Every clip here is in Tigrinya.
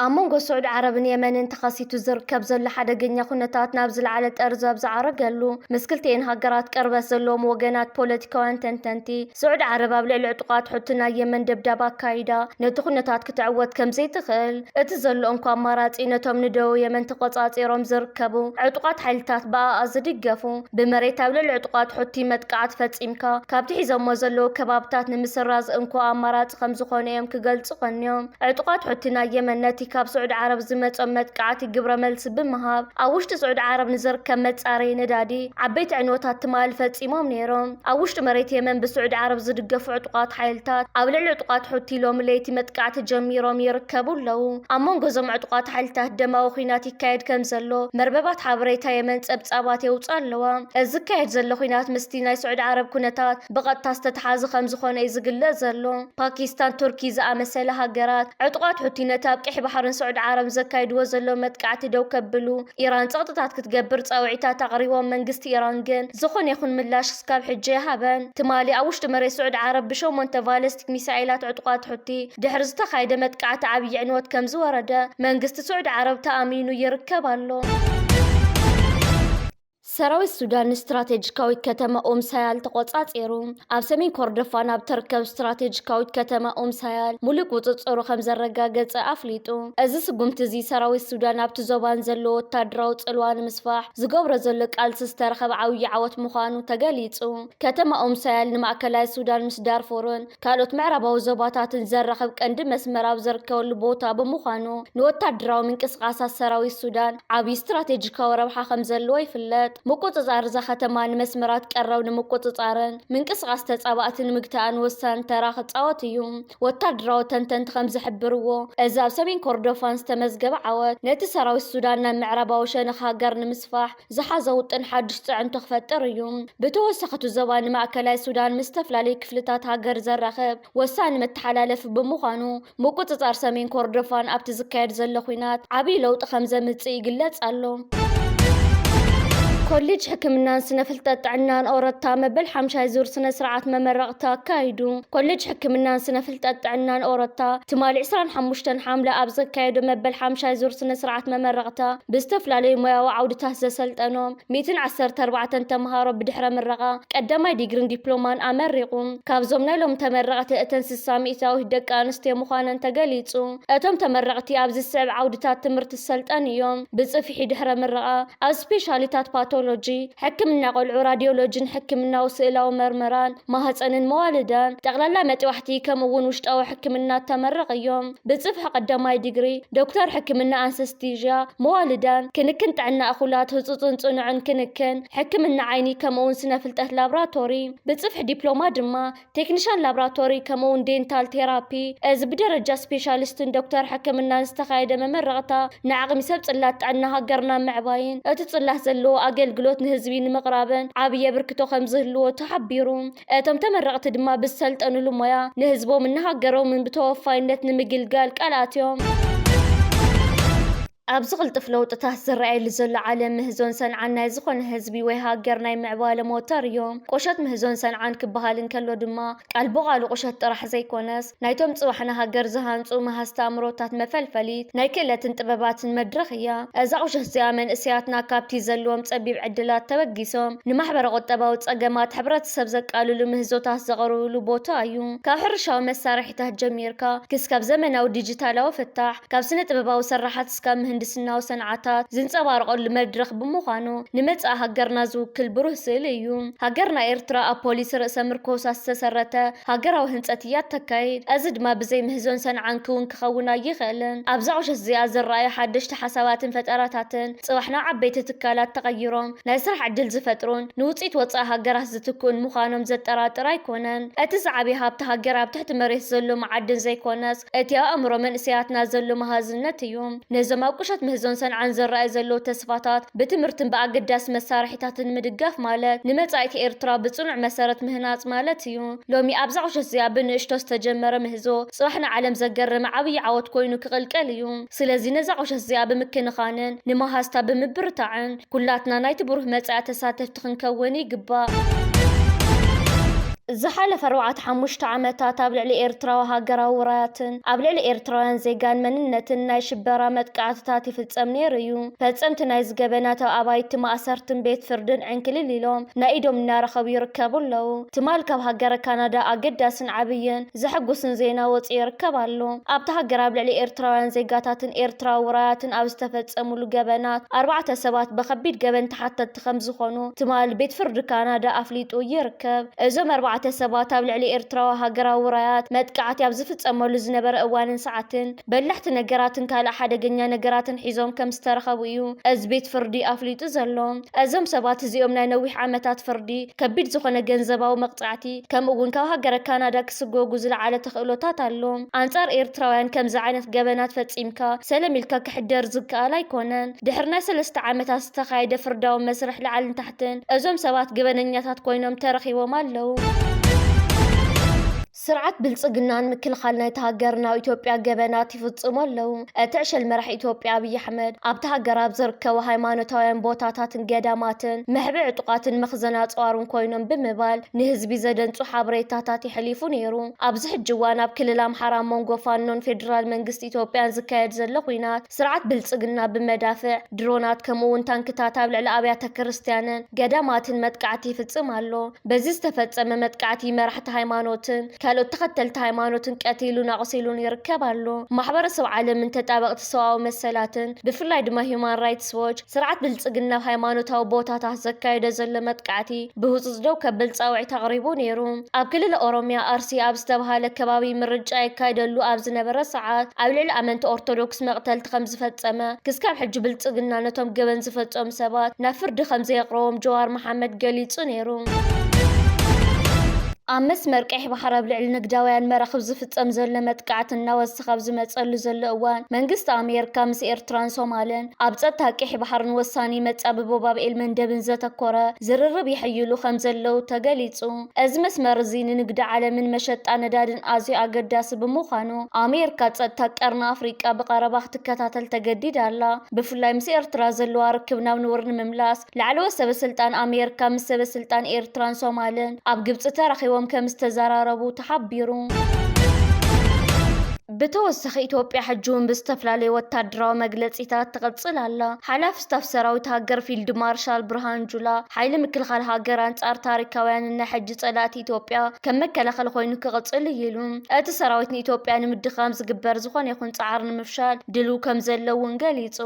ኣብ መንጎ ስዑድ ዓረብን የመንን ተኸሲቱ ዝርከብ ዘሎ ሓደገኛ ኩነታት ናብ ዝለዓለ ጠርዚ ኣብ ዝዓረገሉ ምስ ክልቲኤን ሃገራት ቅርበት ዘለዎም ወገናት ፖለቲካውያን ተንተንቲ ስዑዲ ዓረብ ኣብ ልዕሊ ዕጡቓት ሑቲ ናይ የመን ደብዳብ ኣካይዳ ነቲ ኩነታት ክትዕወት ከምዘይትኽእል፣ እቲ ዘሎ እንኮ ኣማራጺ ነቶም ንደቡብ የመን ተቖጻጺሮም ዝርከቡ ዕጡቓት ሓይልታት ብኣኣ ዝድገፉ ብመሬት ኣብ ልዕሊ ዕጡቓት ሑቲ መጥቃዕቲ ፈጺምካ ካብቲ ሒዞሞ ዘለዉ ከባብታት ንምስራዝ እንኮ ኣማራጺ ከምዝኾነ እዮም ክገልጹ ቀንዮም። ዕጡቓት ሑቲ ናይ የመን ነቲ ካብ ስዑዲ ዓረብ ዝመጾም መጥቃዕቲ ግብረ መልሲ ብምሃብ ኣብ ውሽጢ ስዑዲ ዓረብ ንዝርከብ መጻረዪ ነዳዲ ዓበይቲ ዕንወታት ትማሊ ፈጺሞም ነይሮም። ኣብ ውሽጢ መሬት የመን ብስዑዲ ዓረብ ዝድገፉ ዕጡቓት ሓይልታት ኣብ ልዕሊ ዕጡቓት ሑቲ ሎሚ ለይቲ መጥቃዕቲ ጀሚሮም ይርከቡ ኣለዉ። ኣብ መንጎ እዞም ዕጡቓት ሓይልታት ደማዊ ኲናት ይካየድ ከምዘሎ መርበባት ሓበሬታ የመን ጸብጻባት የውጽኣ ኣለዋ። እዚ ዝካየድ ዘሎ ኲናት ምስቲ ናይ ስዑዲ ዓረብ ኩነታት ብቐጥታ ዝተተሓዘ ከምዝኾነ እዩ ዝግለጽ ዘሎ። ፓኪስታን፣ ቱርኪ ዝኣመሰላ ሃገራት፣ ዕጡቓት ሑቲ ነቲ ኣብ ቀይሕ ባሕርን ስዑዲ ዓረብን ዘካይድዎ ዘለዉ መጥቃዕቲ ደው ከብሉ ኢራን ጸቕጥታት ክትገብር ጻውዒታት ኣቕሪቦም፣ መንግስቲ ኢራን ግን ዝኾነ ይኹን ምላሽ ክስካብ ሕጂ ኣይሃበን። ትማሊ ኣብ ውሽጢ መሬት ስዑዲ ዓረብ ብሸሞንተ ቫለስቲክ ሚሳኤላት ዕጡቓት ሑቲ ድሕሪ ዝተኻየደ መጥቃዕቲ ዓብዪ ዕንወት ከምዝወረደ መንግስቲ ስዑዲ ዓረብ ተኣሚኑ ይርከብ ኣሎ። ሰራዊት ሱዳን ንስትራቴጂካዊት ከተማ ኡም ሳያል ተቖጻጺሩ። ኣብ ሰሜን ኮርዶፋን ኣብ እትርከብ ስትራቴጂካዊት ከተማ ኡም ሳያል ምሉእ ቁጽጽሩ ከም ዘረጋገጸ ኣፍሊጡ። እዚ ስጉምቲ እዚ ሰራዊት ሱዳን ኣብቲ ዞባ ንዘለዎ ወተሃደራዊ ጽልዋ ንምስፋሕ ዝገብሮ ዘሎ ቃልሲ ዝተረኸበ ዓብዪ ዓወት ምዃኑ ተገሊጹ። ከተማ ኡም ሳያል ንማእከላይ ሱዳን ምስ ዳርፉርን ካልኦት ምዕራባዊ ዞባታትን ዘራኽብ ቀንዲ መስመር ኣብ ዝርከበሉ ቦታ ብምዃኑ ንወታደራዊ ምንቅስቓሳት ሰራዊት ሱዳን ዓብዪ ስትራቴጂካዊ ረብሓ ከም ዘለዎ ይፍለጥ። ምቁጽጻር እዛ ከተማ ንመስመራት ቀረብ ንምቁጽጻርን ምንቅስቓስ ተጻባእቲ ንምግታእን ወሳኒ ተራ ክጻወት እዩ። ወታደራዊ ተንተንቲ ከም ዝሕብርዎ፣ እዚ ኣብ ሰሜን ኮርዶፋን ዝተመዝገበ ዓወት፣ ነቲ ሰራዊት ሱዳን ናብ ምዕራባዊ ሸነኽ ሃገር ንምስፋሕ፣ ዝሓዘ ውጥን ሓድሽ ፅዕንቶ ክፈጥር እዩ። ብተወሳኺ እቲ ዞባ ንማእከላይ ሱዳን ምስ ዝተፈላለዩ ክፍልታት ሃገር ዘራኽብ ወሳኒ መተሓላለፊ ብምዃኑ ምቁፅፃር ሰሜን ኮርዶፋን ኣብቲ ዝካየድ ዘሎ ኲናት ዓብዪ ለውጢ ከምዘምፅእ ይግለፅ ኣሎ። ኮሌጅ ሕክምናን ስነ ፍልጠት ጥዕናን ኦረታ መበል ሓምሻይ ዙር ስነ ስርዓት መመረቕታ ኣካይዱ። ኮሌጅ ሕክምናን ስነ ፍልጠት ጥዕናን ኦረታ ትማሊ 25 ሓምለ ኣብ ዘካየዶ መበል ሓምሻይ ዙር ስነ ስርዓት መመረቕታ ብዝተፍላለዩ ሞያዊ ዓውድታት ዘሰልጠኖም ሚእትን ዓሰርተ ኣርባዕተን ተምሃሮ ብድሕረ ምረቓ ቀዳማይ ዲግሪን ዲፕሎማን ኣመሪቑ። ካብዞም ናይ ሎም ተመረቕቲ እተን ስሳ ሚኢታዊት ደቂ ኣንስትዮ ምዃነን ተገሊፁ። እቶም ተመረቕቲ ኣብ ዝስዕብ ዓውድታት ትምህርቲ ዝሰልጠኑ እዮም፣ ብፅፍሒ ድሕረ ምረቓ ኣብ ስፔሻሊታት ፓቶሎጂ፣ ሕክምና ቆልዑ፣ ራዲዮሎጂን ሕክምናዊ ስእላዊ መርመራን፣ ማህፀንን መዋልዳን፣ ጠቕላላ መጥባሕቲ ከምኡ እውን ውሽጣዊ ሕክምና ተመረቕ እዮም። ብጽፍሒ ቀዳማይ ዲግሪ፣ ዶክተር ሕክምና ኣንሰስቲዥያ፣ መዋልዳን፣ ክንክን ጥዕና እኹላት፣ ህጹጽን ጽኑዕን ክንክን፣ ሕክምና ዓይኒ ከምኡውን ስነ ፍልጠት ላብራቶሪ፣ ብጽፍሒ ዲፕሎማ ድማ ቴክኒሻን ላብራቶሪ ከምኡውን ዴንታል ቴራፒ፣ እዚ ብደረጃ ስፔሻሊስትን ዶክተር ሕክምናን ዝተኻየደ መመረቕታ ንዓቕሚ ሰብ ጽላት ጥዕና ሃገርና ምዕባይን እቲ ጽላት ዘለዎ ኣገልግሎት ንህዝቢ ንምቕራብን ዓቢ የብርክቶ ከምዝህልዎ ተሓቢሩ። እቶም ተመረቕቲ ድማ ብዝሰልጠንሉ ሞያ ንህዝቦምን ንሃገሮምን ብተወፋይነት ንምግልጋል ቃል ኣትዮም። ኣብዚ ቅልጡፍ ለውጥታት ዝረኣየሉ ዘሎ ዓለም ምህዞን ሰንዓን ናይ ዝኾነ ህዝቢ ወይ ሃገር ናይ ምዕባለ ሞተር እዮም። ቁሸት ምህዞን ሰንዓን ክበሃል እንከሎ ድማ ቃል ብቓሉ ቁሸት ጥራሕ ዘይኮነስ፣ ናይቶም ጽባሕ ንሃገር ዝሃንጹ መሃዝቲ ኣእምሮታት መፈልፈሊት ናይ ክእለትን ጥበባትን መድረኽ እያ። እዛ ቁሸት እዚኣ መንእሰያትና ካብቲ ዘለዎም ጸቢብ ዕድላት ተበጊሶም ንማሕበረ-ቁጠባዊ ጸገማት ሕብረተሰብ ዘቃልሉ ምህዞታት ዘቕርብሉ ቦታ እዩ። ካብ ሕርሻዊ መሳርሒታት ጀሚርካ ክስካብ ዘመናዊ ዲጂታላዊ ፍታሕ፣ ካብ ስነ-ጥበባዊ ስርሓት፣ ክሳብ ምህንድስናዊ ሰንዓታት ዝንጸባረቐሉ መድረኽ ብምዃኑ፣ ንመጻኢ ሃገርና ዝውክል ብሩህ ስእሊ እዩ። ሃገርና ኤርትራ ኣብ ፖሊሲ ርእሰ ምርኮሳ ዝተሰረተ ሃገራዊ ህንጸት እያ እተካይድ። እዚ ድማ ብዘይ ምህዞን ሰንዓን ክውን ክኸውን ኣይኸእልን። ኣብዛ ቁሸት እዚኣ ዝረኣዩ ሓደሽቲ ሓሳባትን ፈጠራታትን፣ ጽባሕ ናብ ዓበይቲ ትካላት ተቐይሮም ናይ ስራሕ ዕድል ዝፈጥሩን ንውጽኢት ወጻኢ ሃገራት ዝትክኡን ምዃኖም ዘጠራጥር ኣይኮነን። እቲ ዝዓበየ ሃብቲ ሃገር ኣብ ትሕቲ መሬት ዘሎ መዓድን ዘይኮነስ፣ እቲ ኣእምሮ መንእሰያትና ዘሎ መሃዝነት እዩ። ነዞም ኣብ ቁሸት ምህዞን ሰንዓን ዝረኣዩ ዘለዉ ተስፋታት ብትምህርትን ብኣገዳሲ መሳርሒታትን ምድጋፍ ማለት ንመጻኢት ኤርትራ ብጽኑዕ መሰረት ምህናጽ ማለት እዩ። ሎሚ ኣብዛ ቁሸት'ዚኣ ብንእሽቶ ዝተጀመረ ምህዞ ጽባሕ ንዓለም ዘገረመ ዓብዪ ዓወት ኮይኑ ክቕልቀል እዩ። ስለዚ ነዛ ቁሸት'ዚኣ ብምክንኻንን ንመሃዝታ ብምብርታዕን ኩላትና ናይቲ ብሩህ መጻኢ ተሳተፍቲ ተሓተትቲ ክንከውን ይግባእ። ዝሓለፈ ኣርባዕተ ሓሙሽተ ዓመታት ኣብ ልዕሊ ኤርትራዊ ሃገራዊ ውራያትን ኣብ ልዕሊ ኤርትራውያን ዜጋን መንነትን ናይ ሽበራ መጥቃዕትታት ይፍጸም ነይሩ እዩ። ፈጸምቲ ናይዚ ገበናት ኣብ ኣባይቲ ማእሰርትን ቤት ፍርድን ዕንክሊል ኢሎም ናይ ኢዶም እናረኸቡ ይርከቡ ኣለዉ። ትማል ካብ ሃገረ ካናዳ ኣገዳስን ዓብይን ዘሕጉስን ዜና ወጺኡ ይርከብ ኣሎ። ኣብታ ሃገር ኣብ ልዕሊ ኤርትራውያን ዜጋታትን ኤርትራዊ ውራያትን ኣብ ዝተፈጸምሉ ገበናት ኣርባዕተ ሰባት ብከቢድ ገበን ተሓተትቲ ተሓተቲ ከምዝኾኑ ትማል ቤት ፍርዲ ካናዳ ኣፍሊጡ ይርከብ። እዞም ኣርባዕተ ሰባት ኣብ ልዕሊ ኤርትራዊ ሃገራዊ ራያት መጥቃዕቲ ኣብ ዝፍጸመሉ ዝነበረ እዋንን ሰዓትን በላሕቲ ነገራትን ካልእ ሓደገኛ ነገራትን ሒዞም ከምዝተረኸቡ እዩ እዚ ቤት ፍርዲ ኣፍሊጡ ዘሎ። እዞም ሰባት እዚኦም ናይ ነዊሕ ዓመታት ፍርዲ፣ ከቢድ ዝኾነ ገንዘባዊ መቕጻዕቲ ከምኡ'ውን ካብ ሃገረ ካናዳ ክስጎጉ ዝለዓለ ተኽእሎታት ኣሎ። ኣንጻር ኤርትራውያን ከምዚ ዓይነት ገበናት ፈጺምካ ሰለም ኢልካ ክሕደር ዝከኣል ኣይኮነን። ድሕሪ ናይ ሰለስተ ዓመታት ዝተኻየደ ፍርዳዊ መስርሕ ላዕልን ታሕትን፣ እዞም ሰባት ገበነኛታት ኮይኖም ተረኺቦም ኣለዉ። ስርዓት ብልጽግና ንምክልኻል ናይታ ሃገር ናብ ኢትዮጵያ ገበናት ይፍጽሙ ኣለዉ። እቲ ዕሸል መራሒ ኢትዮጵያ ኣብይ ኣሕመድ፣ ኣብታ ሃገር ኣብ ዝርከቡ ሃይማኖታውያን ቦታታትን ገዳማትን መሕብኢ ዕጡቓትን መኽዘን ኣጽዋርን ኮይኖም ብምባል ንህዝቢ ዘደንጹ ሓበሬታታት የሕሊፉ ነይሩ። ኣብዚ ሕጂ እዋን ኣብ ክልል ኣምሓራ ኣብ መንጎ ፋኖን ፌደራል መንግስቲ ኢትዮጵያን ዝካየድ ዘሎ ኲናት፣ ስርዓት ብልጽግና ብመዳፍዕ፣ ድሮናት ከምኡ'ውን ታንክታት ኣብ ልዕሊ ኣብያተ ክርስትያንን ገዳማትን መጥቃዕቲ ይፍጽም ኣሎ። በዚ ዝተፈጸመ መጥቃዕቲ መራሕቲ ሃይማኖትን ካልኦት ተኸተልቲ ሃይማኖትን ቀቲሉን ኣቑሲሉን ይርከብ ኣሎ። ማሕበረሰብ ዓለምን ተጣበቕቲ ሰብኣዊ መሰላትን ብፍላይ ድማ ሂዩማን ራይትስ ዎች፣ ስርዓት ብልጽግና ኣብ ሃይማኖታዊ ቦታታት ዘካይዶ ዘሎ መጥቃዕቲ ብህጹጽ ደው ከብል ጻውዒት ኣቕሪቡ ነይሩ። ኣብ ክልል ኦሮምያ ኣርሲ ኣብ ዝተብሃለ ከባቢ ምርጫ ይካይደሉ ኣብ ዝነበረ ሰዓት ኣብ ልዕሊ ኣመንቲ ኦርቶዶክስ መቕተልቲ ከምዝፈጸመ ክስካብ ሕጂ ብልጽግና ነቶም ገበን ዝፈጸሙ ሰባት ናብ ፍርዲ ከምዘየቕረቦም ጀዋር መሓመድ ገሊጹ ነይሩ። ኣብ መስመር ቀይሕ ባሕሪ ኣብ ልዕሊ ንግዳውያን መራኽብ ዝፍጸም ዘሎ መጥቃዕቲ እናወሰኸ እቲ ካብ ዝመጸሉ ዘሎ እዋን፣ መንግስቲ ኣሜርካ ምስ ኤርትራን ሶማልን ኣብ ጸጥታ ቄሕ ባሕርን ወሳኒ መጻብቦ ባብ ኤልመንደብን ዘተኮረ ዝርርብ የሐይሉ ከም ዘለዉ ተገሊጹ። እዚ መስመር እዚ ንንግዲ ዓለምን መሸጣ ነዳድን ኣዝዩ ኣገዳሲ ብምዃኑ፣ ኣሜርካ ጸጥታ ቀርኒ ኣፍሪቃ ብቐረባ ክትከታተል ተገዲዳ ኣላ። ብፍላይ ምስ ኤርትራ ዘለዋ ርክብ ናብ ንቡር ንምምላስ፣ ላዕለዎት ሰበስልጣን ኣሜርካ ምስ ሰበስልጣን ኤርትራን ሶማልን ኣብ ግብጺ ተራኺቦም ከምዝተዘራረቡ ተሓቢሩ። ብተወሳኺ ኢትዮጵያ ሕጂ እውን ብዝተፈላለዩ ወታደራዊ መግለጺታት ትቕጽል ኣላ። ሓላፊ ስታፍ ሰራዊት ሃገር ፊልድ ማርሻል ብርሃን ጁላ፣ ሓይሊ ምክልኻል ሃገር ኣንጻር ታሪካውያንን ናይ ሕጂ ጸላእቲ ኢትዮጵያ ከም መከላኸሊ ኮይኑ ክቕጽል እዩ ኢሉ። እቲ ሰራዊት ንኢትዮጵያ ንምድኻም ዝግበር ዝኾነ ይኹን ጻዕሪ ንምፍሻል ድልው ከም ዘሎ እውን ገሊጹ።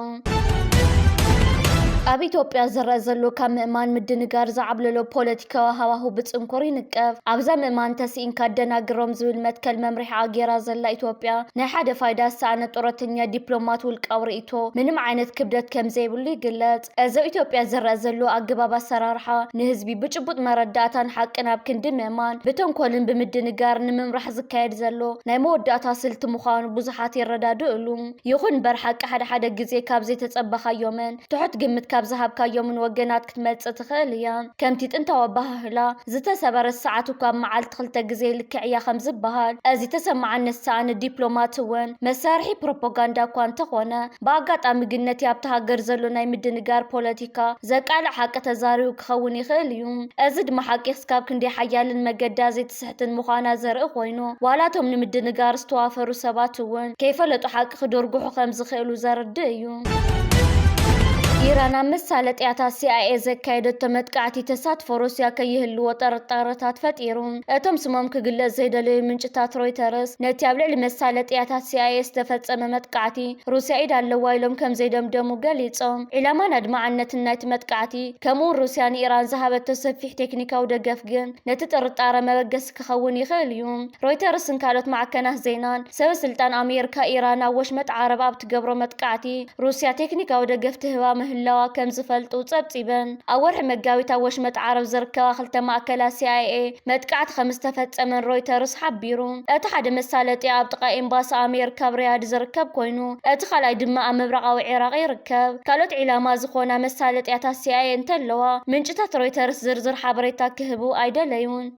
ኣብ ኢትዮጵያ ዝረአ ዘሎ ካብ ምእማን ምድንጋር ዝዓብለሎ ፖለቲካዊ ሃዋሁ ብጽንኩር ይንቀፍ። ኣብዛ ምእማን ተስኢንካ ኣደናግሮም ዝብል መትከል መምርሒኣ ገይራ ዘላ ኢትዮጵያ፣ ናይ ሓደ ፋይዳ ዝሰኣነ ጡረተኛ ዲፕሎማት ውልቃዊ ርእይቶ ምንም ዓይነት ክብደት ከም ዘይብሉ ይግለጽ። እዞ ኢትዮጵያ ዝረኣ ዘሎ ኣገባብ ኣሰራርሓ ንህዝቢ ብጭቡጥ መረዳእታን ሓቅን ኣብ ክንዲ ምእማን ብተንኮልን ብምድንጋርን ንምምራሕ ዝካየድ ዘሎ ናይ መወዳእታ ስልቲ ምዃኑ ብዙሓት ይረዳድእሉ። ይኹን እምበር ሓቂ ሓደ ሓደ ግዜ ካብ ዘይተጸበኻዮምን ትሑት ግምት ካብ ዝሃብካዮምን ወገናት ክትመጽእ ትኽእል እያ። ከምቲ ጥንታዊ ኣበሃህላ ዝተሰበረት ሰዓት እኳ ኣብ መዓልቲ ክልተ ግዜ ልክዕ እያ ከምዝበሃል እዚ ተሰማዕነት ሰኣኒ ዲፕሎማት እውን መሳርሒ ፕሮፖጋንዳ እኳ እንተኾነ ብኣጋጣሚ ግን ነቲ ኣብታ ሃገር ዘሎ ናይ ምድንጋር ፖለቲካ ዘቃልዕ ሓቂ ተዛሪቡ ክኸውን ይኽእል እዩ። እዚ ድማ ሓቂ ክስካብ ክንደይ ሓያልን መገዳ ዘይትስሕትን ምዃና ዘርኢ ኮይኑ፣ ዋላ እቶም ንምድንጋር ዝተዋፈሩ ሰባት እውን ከይፈለጡ ሓቂ ክድርጉሑ ከም ዝኽእሉ ዘርድእ እዩ። ኢራን ኣብ መሳለጥያታት ሲኣይኤ ዘካየደቶ መጥቃዕቲ ተሳትፎ ሩስያ ከይህልዎ ጥርጣረታት ፈጢሩ። እቶም ስሞም ክግለጽ ዘይደለዩ ምንጭታት ሮይተርስ፣ ነቲ ኣብ ልዕሊ መሳለጥያታት ሲኣይኤ ዝተፈጸመ መጥቃዕቲ ሩስያ ኢድ ኣለዋ ኢሎም ከም ዘይደምደሙ ገሊጾም። ዒላማን ኣድማዕነትን ናይቲ መጥቃዕቲ፣ ከምኡ'ውን ሩስያ ንኢራን ዝሃበቶ ሰፊሕ ቴክኒካዊ ደገፍ ግን ነቲ ጥርጣረ መበገሲ ክኸውን ይኽእል እዩ። ሮይተርስን ካልኦት ማዕከናት ዜናን፣ ሰበስልጣን ኣሜርካ ኢራን ኣብ ወሽመጥ ዓረብ ኣብ ትገብሮ መጥቃዕቲ ሩስያ ቴክኒካዊ ደገፍ ትህባ ምህላዋ ከም ዝፈልጡ ጸብጺበን። ኣብ ወርሒ መጋቢት ኣብ ወሽመጥ ዓረብ ዝርከባ ክልተ ማእከላት ሲኣይኤ መጥቃዕቲ ከም ዝተፈጸመን ሮይተርስ ሓቢሩ። እቲ ሓደ መሳለጥያ ኣብ ጥቓ ኤምባሲ ኣሜርካ ኣብ ሪያድ ዝርከብ ኮይኑ፣ እቲ ካልኣይ ድማ ኣብ ምብራቓዊ ዒራቕ ይርከብ። ካልኦት ዒላማ ዝኾና መሳለጥያታት ሲኣይኤ እንተለዋ፣ ምንጭታት ሮይተርስ ዝርዝር ሓበሬታ ክህቡ ኣይደለዩን።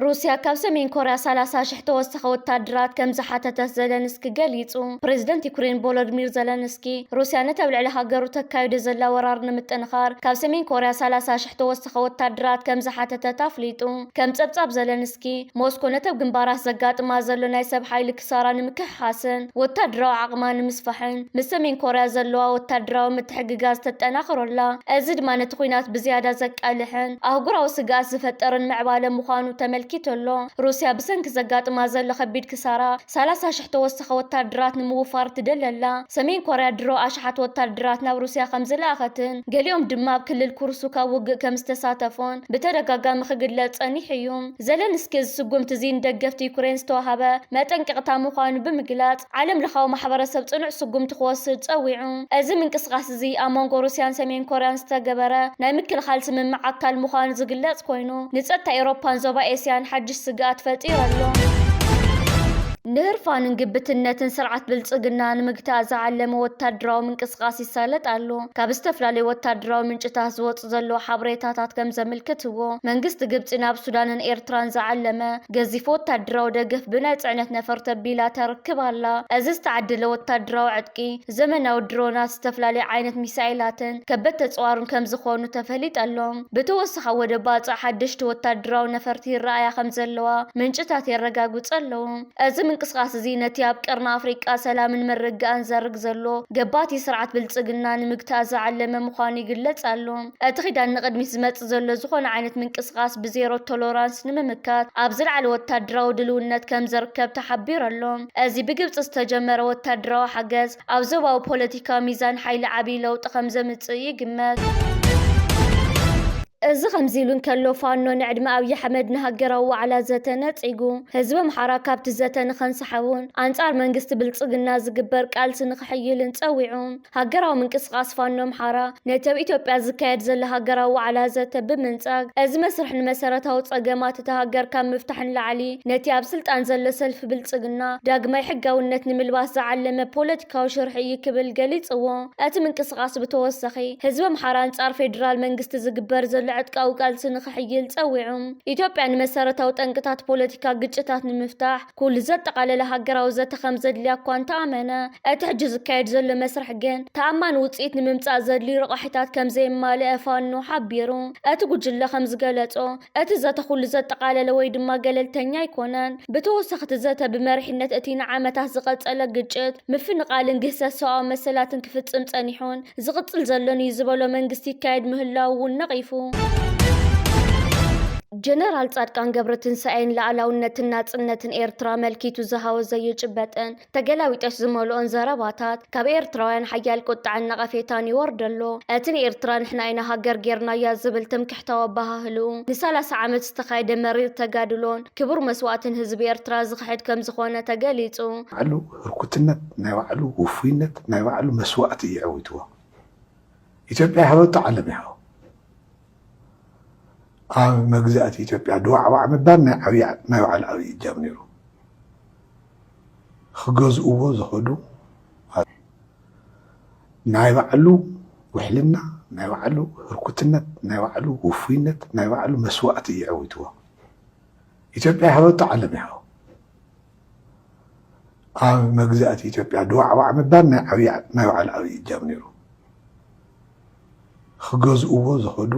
ሩስያ ካብ ሰሜን ኮርያ ሰላሳ ሽሕ ተወሳኺ ወታደራት ከም ዝሓተተት ዘለንስኪ ገሊጹ። ፕሬዝደንት ዩክሬን ቮሎድሚር ዘለንስኪ ሩስያ ነቲ ኣብ ልዕሊ ሃገሩ ተካይዶ ዘላ ወራር ንምጥንኻር ካብ ሰሜን ኮርያ ሰላሳ ሽሕ ተወሳኺ ወታደራት ከም ዝሓተተት ኣፍሊጡ። ከም ጸብጻብ ዘለንስኪ፣ ዘለንስኪ፣ ሞስኮ ነተብ ግንባራት ዘጋጥማ ዘሎ ናይ ሰብ ሓይሊ ክሳራ ንምክሕሓስን ወታደራዊ ዓቕማ ንምስፋሕን ምስ ሰሜን ኮርያ ዘለዋ ወታደራዊ ምትሕግጋዝ ተጠናኽሮ ኣላ። እዚ ድማ ነቲ ኲናት ብዝያዳ ዘቃልሕን ኣህጉራዊ ስግኣት ዝፈጥርን ምዕባለ ምዃኑ ተመልኪቱ ኣሎ። ሩስያ ብሰንኪ ዘጋጥማ ዘሎ ከቢድ ክሳራ፣ ሰላሳ ሽሕ ተወሳኺ ወታደራት ንምውፋር ትደሊ ኣላ። ሰሜን ኮርያ ድሮ ኣሽሓት ወታደራት ናብ ሩስያ ከም ዝለኣኸትን ገሊኦም ድማ ኣብ ክልል ኩርስክ ኣብ ውግእ ከም ዝተሳተፉን ብተደጋጋሚ ክግለጽ ጸኒሑ እዩ። ዘለንስኪ እዚ ስጉምቲ እዚ ንደገፍቲ ዩክሬን ዝተዋህበ መጠንቀቕታ ምዃኑ ብምግላጽ ዓለምለኻዊ ማሕበረሰብ ጽኑዕ ስጉምቲ ክወስድ ጸዊዑ። እዚ ምንቅስቓስ እዚ እዚ ኣብ መንጎ ሩስያን ሰሜን ኮርያን ዝተገበረ ናይ ምክልኻል ስምምዕ ኣካል ምዃኑ ዝግለጽ ኮይኑ፣ ንጸጥታ ኤውሮፓን ዞባ ኤስያን ሓድሽ ስግኣት ፈጢሩ ኣሎ። ንህርፋንን ግብትነትን ስርዓት ብልጽግና ንምግታእ ዝዓለመ ወታደራዊ ምንቅስቓስ ይሳለጥ ኣሎ። ካብ ዝተፈላለዩ ወታደራዊ ምንጭታት ዝወጽእ ዘሎ ሓበሬታታት ከም ዘምልክትዎ፣ መንግስቲ ግብጺ ናብ ሱዳንን ኤርትራን ዝዓለመ ገዚፍ ወታደራዊ ደገፍ ብናይ ጽዕነት ነፈርቲ ኣቢላ ተርክብ ኣላ። እዚ ዝተዓደለ ወታደራዊ ዕጥቂ፣ ዘመናዊ ድሮናት፣ ዝተፈላለዩ ዓይነት ሚሳኤላትን ከበድቲ ተጽዋርን ከም ዝኾኑ ተፈሊጠ'ሎ። ብተወሳኺ ኣብ ወደብ ባጽዕ ሓደሽቲ ወታደራዊ ነፈርቲ ይረኣያ ከም ዘለዋ ምንጭታት የረጋግጹ ኣለዉ። እዚ ምንቅስቓስ'ዚ ነቲ ኣብ ቀርኒ ኣፍሪቃ ሰላምን ምርግጋእን ዘርግ ዘሎ ገባቲ ስርዓት ብልጽግና ንምግታእ ዝዓለመ ምዃኑ ይግለጽ ኣሎ። እቲ ኪዳን ንቕድሚት ዝመጽእ ዘሎ ዝኾነ ዓይነት ምንቅስቓስ ብዜሮ ቶሎራንስ ንምምካት ኣብ ዝለዓለ ወታደራዊ ድልውነት ከም ዝርከብ ተሓቢሩ ኣሎ። እዚ ብግብጺ ዝተጀመረ ወታደራዊ ሓገዝ፣ ኣብ ዞባዊ ፖለቲካዊ ሚዛን ሓይሊ ዓብዪ ለውጢ ከም ዘምጽእ ይግመት። እዚ ከምዚ ኢሉ እንከሎ፣ ፋኖ ንዕድመ ኣብዪ ኣሕመድ ንሃገራዊ ዋዕላ ዘተ ነጺጉ፣ ህዝቢ ኣምሓራ ካብቲ ዘተ ንኸንሳሕቡን ኣንጻር መንግስቲ ብልጽግና ዝግበር ቃልሲ ንኽሕይልን ጸዊዑ። ሃገራዊ ምንቅስቓስ ፋኖ ኣምሓራ፣ ነቲ ኣብ ኢትዮጵያ ዝካየድ ዘሎ ሃገራዊ ዋዕላ ዘተ ብምንጻግ፣ እዚ መስርሕ ንመሰረታዊ ጸገማት እታ ሃገር ካብ ምፍታሕ ንላዕሊ፣ ነቲ ኣብ ስልጣን ዘሎ ሰልፊ ብልጽግና ዳግማይ ሕጋውነት ንምልባስ ዝዓለመ ፖለቲካዊ ሽርሒ እዩ ክብል ገሊጽዎ። እቲ ምንቅስቓስ ብተወሳኺ፣ ህዝቢ ኣምሓራ ኣንጻር ፌደራል መንግስቲ ዝግበር ዘሎ ዕጥቃዊ ቃልሲ ንክሕይል ጸዊዑ። ኢትዮጵያ ንመሰረታዊ ጠንቅታት ፖለቲካ ግጭታት ንምፍታሕ፣ ኩሉ ዘጠቓለለ ሃገራዊ ዘተ ከምዘድልያ እኳ እንተኣመነ፣ እቲ ሕጂ ዝካየድ ዘሎ መስርሕ ግን ተኣማኒ ውጽኢት ንምምጻእ ዘድልዩ ረቛሒታት ከምዘየማልኣ ፋኖ ሓቢሩ። እቲ ጉጅለ ከምዝገለጾ፣ እቲ ዘተ ኩሉ ዘጠቓለለ ወይ ድማ ገለልተኛ ኣይኮነን። ብተወሳኺ እቲ ዘተ ብመሪሕነት እቲ ንዓመታት ዝቐጸለ ግጭት፣ ምፍንቓልን ግህሰት ሰብኣዊ መሰላትን ክፍጽም ጸኒሑን፣ ዝቕፅል ዘሎን እዩ ዝበሎ መንግስቲ ይካየድ ምህላዉ እውን ነቒፉ። ጀነራል ጻድቃን ገብረትንሳኤን ላእላውነትን ናጽነትን ኤርትራ መልኪቱ ዝሃወ ዘይጭበጥን ተገላቢጦሽ ዝመልኦን ዘረባታት ካብ ኤርትራውያን ሓያል ቁጥዐን ነቐፌታን ይወርደሎ። እቲ ንኤርትራ ንሕና ኢና ሃገር ጌርናያ ዝብል ትምክሕታዊ ኣበሃህልኡ ንሰላሳ ዓመት ዝተኻየደ መሪር ተጋድሎን ክቡር መስዋእትን ህዝቢ ኤርትራ ዝኽሕድ ከምዝኾነ ተገሊጹ። ባዕሉ ህርኩትነት ናይ ባዕሉ ውፉይነት ናይ ባዕሉ መስዋእቲ እዩ ዐዊትዎ ኢትዮጵያ ይሃበቶ ዓለም ይሃቦ ኣብ መግዛእቲ ኢትዮጵያ ድዋዕዋዕ ምባል ናይ ዓብይ ናይ ባዕሉ ዓብይ እጃም ነይሩ ክገዝእዎ ዝኸዱ ናይ ባዕሉ ውሕልና ናይ ባዕሉ ህርኩትነት ናይ ባዕሉ ውፉይነት ናይ ባዕሉ መስዋእቲ እዩ ዐዊትዎ ኢትዮጵያ ይሃበቶ ዓለም ይሃቦ ኣብ መግዛእቲ ኢትዮጵያ ድዋዕዋዕ ምባል ናይ ዓብዪ ናይ ባዕሉ ዓብዪ እጃም ነይሩ። ክገዝእዎ ዝኸዱ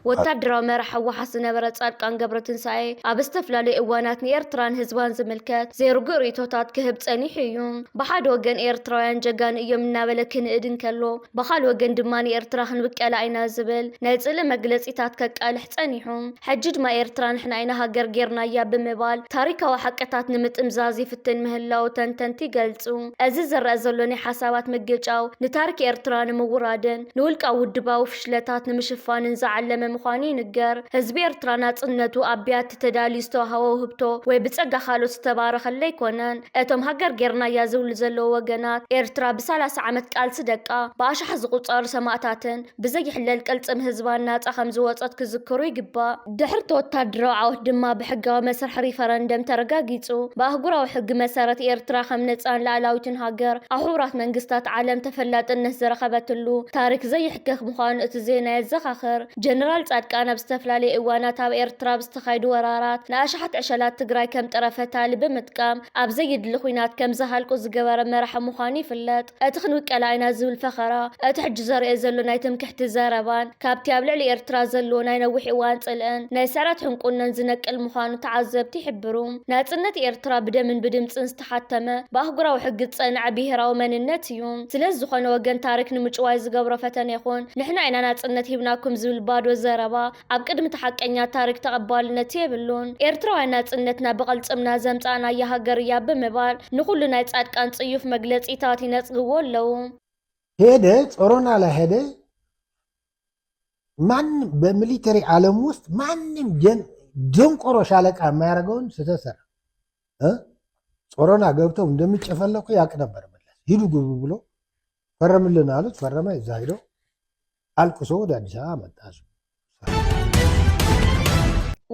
ወታደራዊ መራሕ ህወሓት ዝነበረ ጻድቃን ገብረትንሳኤ ኣብ ዝተፈላለዩ እዋናት ንኤርትራን ህዝባን ዝምልከት ዘይርጉእ ርእይቶታት ክህብ ጸኒሑ እዩ። ብሓደ ወገን ኤርትራውያን ጀጋኑ እዮም እናበለ ክንእድ እንከሎ፣ ብኻልእ ወገን ድማ ንኤርትራ ክንብቀላ ኢና ዝብል ናይ ጽልኢ መግለጺታት ከቃልሕ ጸኒሑ። ሕጂ ድማ ኤርትራ ንሕና ኢና ሃገር ጌርናያ ብምባል ታሪካዊ ሓቅታት ንምጥምዛዝ ይፍትን ምህላዉ ተንተንቲ ይገልጹ። እዚ ዝረኣ ዘሎ ናይ ሓሳባት ምግጫው ንታሪክ ኤርትራ ንምውራድን ንውልቃዊ ውድባዊ ፍሽለታት ንምሽፋንን ዝዓለመ ምዃኑ ይንገር። ህዝቢ ኤርትራ ናጽነቱ ኣብ ብያቲ ተዳልዩ ዝተዋሃቦ ውህብቶ ወይ ብጸጋ ካልኦት ዝተባረኸሉ ኣይኮነን። እቶም ሃገር ጌርናያ ዝብሉ ዘለዉ ወገናት፣ ኤርትራ ብሳላሳ ዓመት ቃልሲ ደቃ፣ ብኣሽሓት ዝቑጸሩ ሰማእታትን፣ ብዘይሕለል ቅልጽም ህዝባ ናጻ ከምዝወጸት ክዝክሩ ይግባእ። ድሕሪ'ቲ ወተሃደራዊ ዓወት ድማ ብሕጋዊ መስርሕ ሪፈረንደም ተረጋጊጹ። ብኣህጉራዊ ሕጊ መሰረት ኤርትራ ከም ነጻን ልኣላዊትን ሃገር ኣብ ሕቡራት መንግስታት ዓለም ተፈላጥነት ዝረኸበትሉ ታሪክ ዘይሕከክ ምዃኑ እቲ ዜና የዘኻኽር። ጀነራል ጻድቃን ኣብ ዝተፈላለየ እዋናት ኣብ ኤርትራ ብዝተኻየዱ ወራራት ንኣሽሓት ዕሸላት ትግራይ ከም ጥረ ፈታሊ ብምጥቃም ኣብ ዘዩድሊ ኹናት ከም ዝሃልቁ ዝገበረ መራሒ ምዃኑ ይፍለጥ። እቲ ክንውቀላ ኢና ዝብል ፈኸራ፣ እቲ ሕጂ ዘርእዮ ዘሎ ናይ ትምክሕቲ ዘረባን፣ ካብቲ ኣብ ልዕሊ ኤርትራ ዘለዎ ናይ ነዊሕ እዋን ጽልእን፣ ናይ ስዕረት ሕንቁነን ዝነቅል ምዃኑ ተዓዘብቲ ይሕብሩ። ናጽነት ኤርትራ ብደምን ብድምጽን ዝተሓተመ፣ ብኣህጉራዊ ሕጊ ዝጸንዐ ብሄራዊ መንነት እዩ። ስለዚ ዝኾነ ወገን ታሪክ ንምጭዋይ ዝገብሮ ፈተነ ይኹን፣ ንሕና ኢና ናጽነት ሂብናኩም ዝብል ባዶ ዘረባ፣ ኣብ ቅድሚ እቲ ሓቀኛ ታሪክ ተቐባልነት የብሉን። ኤርትራውያን ናጽነትና ብቕልጽምና ዘምጻእናያ ሃገር እያ ብምባል ንኹሉ ናይ ጻድቃን ጽዩፍ መግለጺታት ይነጽግዎ ኣለዉ። ሄደ ጾሮና ላይ ሄደ ማንም በሚሊተሪ ዓለም ውስጥ ማንም ደንቆሮ ሻለቃ የማያደርገውን ስህተት ሰራ ጾሮና ገብተው እንደሚጨፈለቁ ያቅ ነበር መለስ ሂዱ ግቡ ብሎ ፈረምልን አሉት ፈረመ እዛ ሂዶ ኣልቅሶ ወደ ኣዲስ ኣበባ መጣ እሱ።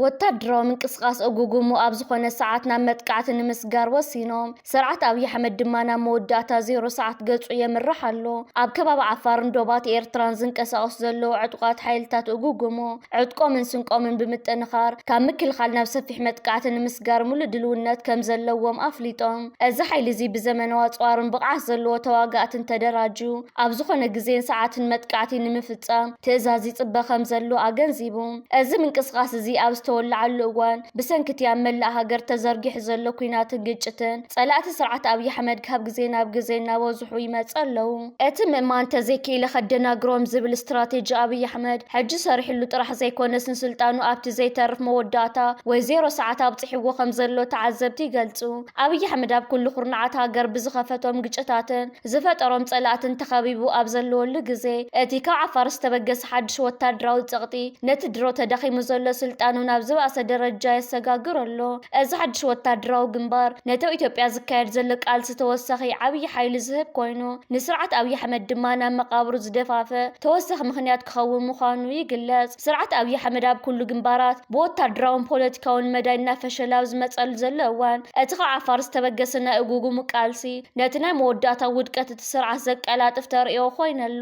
ወታደራዊ ምንቅስቓስ እጉጉሙ ኣብ ዝኾነ ሰዓት ናብ መጥቃዕቲ ንምስጋር ወሲኖም። ስርዓት ኣብይ ኣሕመድ ድማ ናብ መወዳእታ ዜሮ ሰዓት ገጹ የምርሕ ኣሎ። ኣብ ከባቢ ዓፋርን ዶባት ኤርትራን ዝንቀሳቐሱ ዘለዉ ዕጡቓት ሓይልታት እጉጉሙ ዕጥቆምን ስንቆምን ብምጥንኻር ካብ ምክልኻል ናብ ሰፊሕ መጥቃዕቲ ንምስጋር ሙሉእ ድልውነት ከም ዘለዎም ኣፍሊጦም። እዚ ሓይሊ እዚ ብዘመናዊ ኣጽዋርን ብቕዓት ዘለዎ ተዋጋእትን ተደራጁ ኣብ ዝኾነ ግዜን ሰዓትን መጥቃዕቲ ንምፍጻም ትእዛዝ ይጽበ ከምዘሎ ኣገንዚቡ። እዚ ምንቅስቓስ እዚ ኣብ ዝተወለዓሉ እዋን፣ ብሰንኪ'ቲ ኣብ መላእ ሃገር ተዘርጊሑ ዘሎ ኲናትን ግጭትን፣ ጸላእቲ ስርዓት ኣብይ ኣሕመድ ካብ ግዜ ናብ ግዜ እናበዝሑ ይመጽ ኣለዉ። እቲ ምእማን እንተዘይክኢለ ከደናግሮም ዝብል ስትራቴጂ ኣብይ ኣሕመድ ሕጂ ሰሪሕሉ ጥራሕ ዘይኮነስ ንስልጣኑ ኣብቲ ዘይተርፍ መወዳእታ ወይ ዜሮ ሰዓት ኣብጺሕዎ ከምዘሎ ተዓዘብቲ ይገልጹ። ኣብይ ኣሕመድ ኣብ ኩሉ ኩርናዓት ሃገር ብዝኸፈቶም ግጭታትን ዝፈጠሮም ፀላእትን ተኸቢቡ ኣብ ዘለወሉ ግዜ እቲ ካብ ዓፋር ዝተበገሰ ሓዱሽ ወታደራዊ ፀቕጢ ነቲ ድሮ ተዳኺሙ ዘሎ ስልጣኑ ናብ ዝባኣሰ ደረጃ የሰጋግሮ ኣሎ። እዚ ሓዱሽ ወታደራዊ ግንባር ነተብ ኢትዮጵያ ዝካየድ ዘሎ ቃልሲ ተወሳኺ ዓብዪ ሓይሊ ዝህብ ኮይኑ ንስርዓት ኣብዪ ኣሕመድ ድማ ናብ መቓብሩ ዝደፋፍእ ተወሳኺ ምኽንያት ክኸውን ምዃኑ ይግለፅ። ስርዓት ኣብይ ኣሕመድ ኣብ ኩሉ ግንባራት ብወታደራውን ፖለቲካውን መዳይ እናፈሸለ ኣብ ዝመፀሉ ዘሎ እዋን እቲ ካብ ዓፋር ዝተበገሰ ናይ እጉጉሙ ቃልሲ ነቲ ናይ መወዳእታ ውድቀት እቲ ስርዓት ዘቀላጥፍ ተርእዮ ኮይኑ ኣሎ።